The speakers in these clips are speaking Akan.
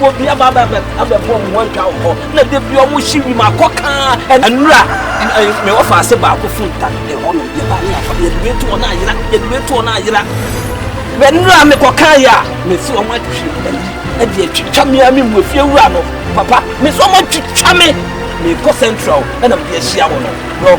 Obi aba abɛbɛ abɛbɔ wɔn adwa wɔ hɔ na de bi wɔn hyi wim akɔ kaa. Nnura me wɔfa ase baako fun ta ɛhɔ nom yɛ ba ne afa yɛ due to wɔn ayera yɛ due to wɔn ayera. Mɛ nnura me kɔ kaa yɛ a mɛ si wɔn atwi ɛyi ɛdi atwitwa mi a mi mu efie wura no papa mɛ si wɔn atwitwa mi mɛ kɔ central ɛna mɛ de ahyia wɔn no.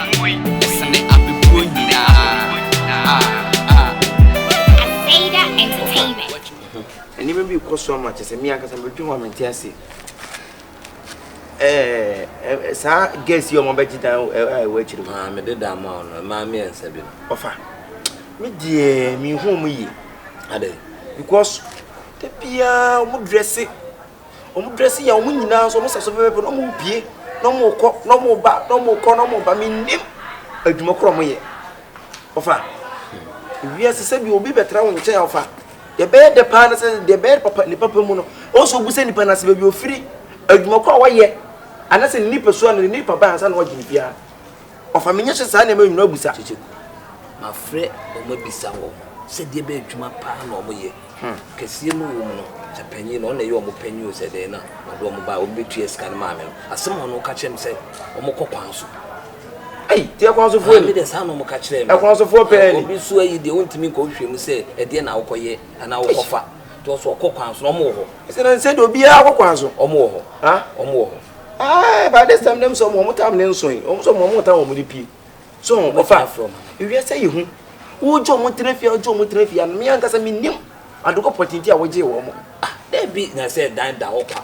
Ɛsene abɛbuo nyinaa ah ah. Aveda Entertainment. Nneɛma bi rekɔ so ama kyerɛ sɛ me ankasa mebɛdwe ho a mente ase. Ɛɛ saa gas yi a wɔabɛgye dan a ɛwɔ akyiri hɔ. Ah, mede dan ma wo no, mmaa mmiɛnsa bi no. Ɔfa, me deɛ menhu wɔn yie. Adɛn? Because da biara wɔdrɛse. Wɔn dress yɛ wɔn nyinaa nso wɔn hyɛ so pɛpɛɛpɛ na wɔn repue na wɔn rekɔ na wɔn reba na wɔn rekɔ na wɔn reba me nim adwuma korɔ wɔn yɛ ɔfa wiase sɛ bi obi bɛtena wɔn nkyɛn ɔfa deɛ bɛyɛ dɛ paa na sɛ deɛ bɛyɛ papa ne papa mu no wɔn so obu sɛ nipa na sɛ baabi ofiri adwuma korɔ a wɔyɛ anasɛ ne nipa so a ne nipa ba ansa na wɔgye ne biara. Ɔfa me nyɛ hyɛ saa nneɛma nyina busa. Kyekyɛ ku. Mafrɛ wɔn abisa wɔn sɛ deɛ bɛn adwuma paa na wɔyɛ. Kɛseɛ no wom no, sɛ panyin no, ɔno na ɛyɛ wɔn panyin o, sɛ dɛn na ɔde wɔn baeɛ, wɔn bɛtua sika no maa me no. Asɛm a ɔno ka kyerɛɛ me sɛ wɔkɔ kwan so. Ei, deɛ kwan sofoɔ ni. Maame deɛ saa na wɔka kyerɛɛ me. Ɛkwan sofoɔ pɛɛ ni. Obi so ayi deɛ ɔntumi nkɔ wohwehwɛ mu sɛ ɛdeɛn na wokɔyɛ anaa wokɔfa. Nti ɔsɛ ɔkɔ kwan so na ɔmo wɔ hɔ. Ɛsɛ na nsɛ de obiara kɔ kwan so. Ɔmo wɔ hɔ. Ha? Ɔmo wɔ hɔ. Ae, by this time dem sɛ ɔmo ɔmo tam ne nso yi. Ɔmo sɛ ɔmo ɔmo tam ɔmo de pie. So ho, ɔfa. Ewiase yɛ hu. Wogye ɔmo tena fie a wogye ɔmo tena fie a, me ankasa me nim adokɔ pɔtee nti a wogyee wɔn. Ah, daabi na sɛ dan da hɔ kwa.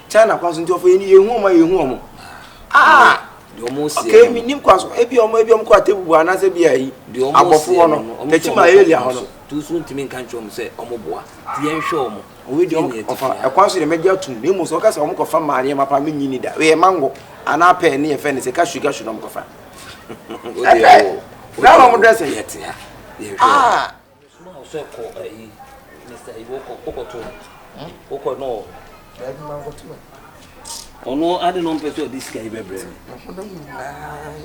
China kwan so nti ɔfo yɛn yɛn hu ɔmo yɛn hu ɔmo aa ɔkè mi nim kwan so ebi ɔmo ebi ɔmo kɔ atebu bu anaasɛ ebi ayi abɔfo hɔ no tɛkyi ma elia hɔ no. tuusu ntumi nka nkyɛn ɔmo sɛ ɔmo boa ti yɛn hwɛ ɔmo. owi di ɔmo ɔfa ɛkwan so yɛ mɛgye atum na emu sɛ ɔka sɛ ɔmo kɔ fa maa nneɛma paa mi nyi ni da yɛ mango anaa pɛɛ ne yɛ fɛ ne sɛ ka sugar sugar ɔmo kɔ fa. o de yɛ o. na ɔmo dɛ sɛ yɛ tia yɛn hwɛ ɔmo. Mesomaa wo sɛ kɔ ayi Mr. Ayi wokɔ wokɔto wokɔ no wɔ. Daabi ma nkɔto me. Ɔno ade no mpɛ sɛ ɔde sika yi bɛbrɛ me.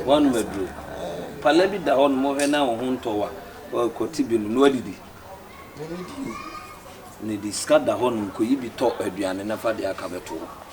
Wɔn maduro. Pala bi da hɔ no mohwɛ na wo ho ntɔ wa kɔte bi no na wadidi. N'ani di. N'adi sika da hɔ nom kɔyi bi tɔ aduane na fa deɛ aka bɛto hɔ.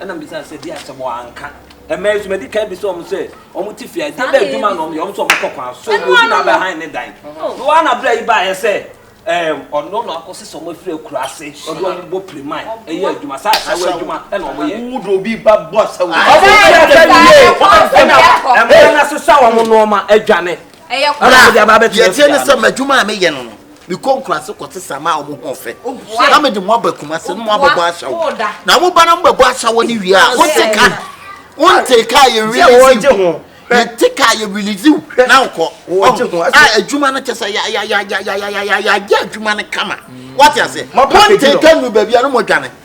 Ɛna mebisa no sɛ, Di asɛm o, anka. Ɛma nso madi kan bisa wɔn sɛ, Wɔte fie a, ɛdeɛ bɛn adwuma na wɔyɛ? Wɔn nso wɔkɔ kwan so, obi na abɛhan ne dan. Na wɔn ara na berɛ yi baeɛ sɛ, ɛɛm, ɔno na wakɔ sesa wɔn afiri akuraase, ɔde wɔn bɔ piriman, yɛ adwuma. Saa asawu adwuma na wɔyɛ. Wo de obi ba bɔ asawu. Wɔn bɔ asawu yie. Ɛna ɛma no asesa wɔn nnoɔma, adwane. Ɛna wɔde aba abɛtena fie ha. Deɛ ɛteɛ ne sɛ, m'adwuma a meyɛ no no, mekɔ nkuraase kɔte sɛ ama a wɔn ho ɔfɛ na mede mo aba kumase na mo abɛbɔ ahyɛwo na mo ba na mo bɛbɔ ahyɛwo ne wie a wonte ka wonte ka yɛ release you yɛnte ka yɛ release you na nkɔ a adwuma no kyɛ sɛ yɛayɛ adwuma no kama wate ase wonte ka nu baabi a no mo adwane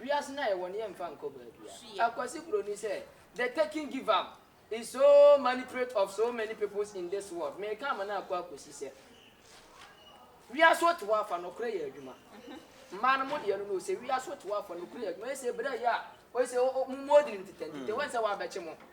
Wiase no a yɛwɔ no yɛmfa nkɔ baabia. Akwasi broni sɛ the taking give am is so manipulate of so many peoples in this world meka ama no akɔ akosi sɛ wiase ote hɔ afa nɔkorɛ yɛ adwuma mmaa no mo deɛ no no sɛ wiase ote hɔ afa nɔkorɛ yɛ adwuma ɛsɛ berɛ yɛ a ɔsɛ mo mo ɔdini no titɛ ntitɛ wɔn sɛ wɔabɛkye mo